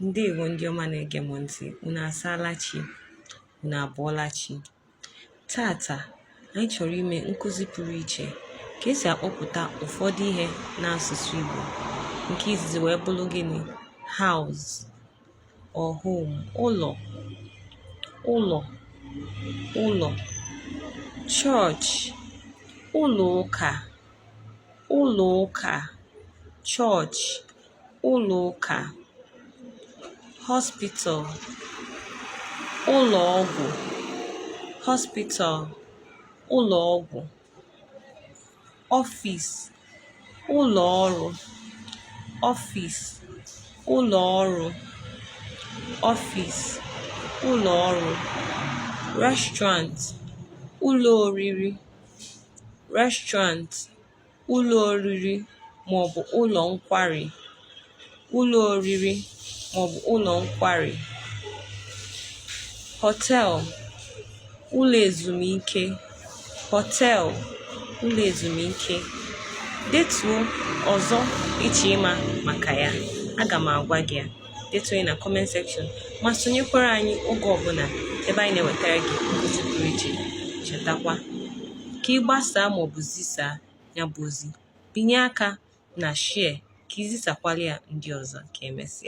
ndewo ndị ọma na-ege m ntị unu asaala chi unu abọọla chi taata anyị chọrọ ime nkụzi pụrụ iche ka esi akpọpụta ụfọdụ ihe n'asụsụ Igbo nke izizi wee bụrụ gịnị house or home ụlọ ụlọ ụlọ church ụlọ ụka ụlọ ụka church ụlọ ụka hospital ụlọ ọgwụ hospital ụlọ ọgwụ office ụlọ ọrụ office ụlọ ọrụ office ụlọ ọrụ restaurant ụlọ oriri restaurant ụlọ oriri maọbụ ụlọ nkwari ụlọ oriri maọbụ ụlọ nkwari hotel ụlọ ezumike hotel ụlọ ezumike detuo ọzọ ị chọ ịma maka ya aga m agwa gị ya detuo ya na comment section ma sonyekwara anyị oge ọbụla ebe anyị na-ewetara gị nkụzi pụrụ iche chetakwa ka ị gbasaa maọbụ zisaa ya bụ ozi binye aka na share ka i zisakwala ya ndị ọzọ ka emesịa